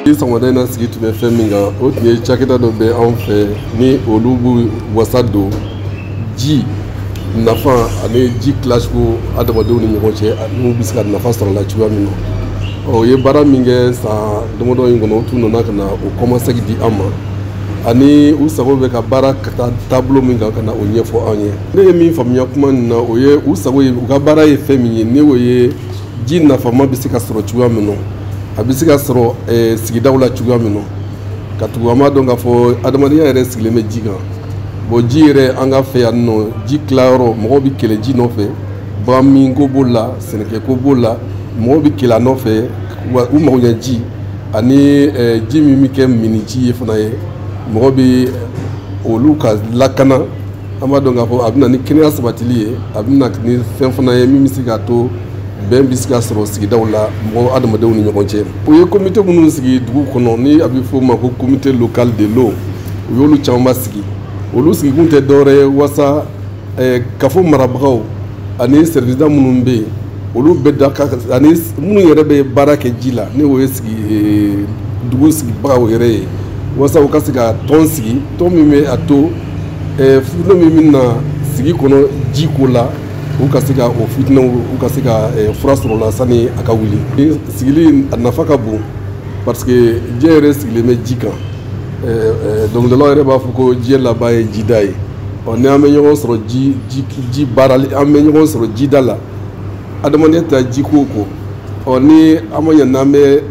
ni sɔgɔmada in na sigi tun bɛ fɛn min kan o tun ye cakɛda dɔ bɛ anw fɛ ni olu b'u wasa don ji nafa ani ji tilacogo adamadenw ni ɲɔgɔn cɛ n'u bɛ se ka nafa sɔrɔ la cogoya min na o ye baara min kɛ san damadɔ in kɔnɔ u tun nana ka na o kɔmasegin di an ma ani u sago bɛ ka baara ka taa taabolo min kan ka na o ɲɛfɔ an ye ne ye min faamuya kuma nin na o ye u sago ye u ka baara ye fɛn min ye ni o ye ji nafama bɛ se ka sɔrɔ cogoya min na a bɛ se ka sɔrɔ eh, sigidaw la cogoya min na ka tugu an b'a dɔn k'a fɔ adamadenya yɛrɛ sigilen bɛ ji kan bon ji yɛrɛ an ka fɛ yan nɔ ji tilayɔrɔ mɔgɔw bɛ kɛlɛ ji nɔfɛ bagan min ko b'o la sɛnɛkɛko b'o la mɔgɔw bɛ kɛlɛ a nɔfɛ wa u mago ɲɛ ji ani eh, ji min bɛ kɛ minni ji ye fana ye mɔgɔ bɛ olu ka lakana an b'a dɔn k'a fɔ a bɛ na ni kɛnɛya sabatili ye a bɛ na ni fɛn fana ye min bɛ se k'a to bɛn bɛ se ka sɔrɔ sigidaw la mɔgɔ adamadenw ni ɲɔgɔn cɛ o ye komite minnu sigi dugu kɔnɔ ni a bɛ fɔ o ma ko comité local de l'eau u y'olu camanba sigi olu sigikun tɛ dɔwɛrɛ ye walasa eh, kafo marabagaw ani sɛriwisida minnu bɛ yen olu bɛ da ka ani minnu yɛrɛ bɛ baara kɛ ji la ni o ye sigi eh, dugu sigibagaw yɛrɛ ye walasa u ka se ka tɔn sigi tɔn min bɛ a to eh, fitinɛ min bɛ na sigi kɔnɔ ji ko la u ka se ka o fitinɛw u ka se ka eh, fura sɔrɔ la sani a ka wuli sigili a nafa ka bon parce que diɲɛ yɛrɛ sigilen bɛ ji kan eh, dɔnkilidalaw yɛrɛ b'a fɔ ko diɲɛ laban ye jida ye ɔ ni an bɛ ɲɔgɔn sɔrɔ ji ji ji baarali an bɛ ɲɔgɔn sɔrɔ jida la adamadenya ta ji ko kɔ ɔ ni an ma ɲɛ n'an bɛ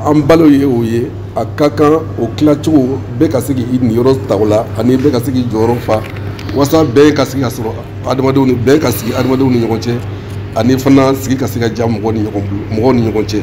an balo ye o ye a ka kan o tilacogo bɛɛ ka se k'i niyɔrɔ ta o la ani bɛɛ ka se k'i jɔyɔrɔ fa walasa bɛɛ ka sigi ka sɔrɔ adamadenw ni bɛɛ ka sigi adamadenw ni ɲɔgɔn cɛ ani fana sigi ka se ka diya mɔgɔw ni ɲɔgɔn bolo mɔgɔw ni ɲɔgɔn cɛ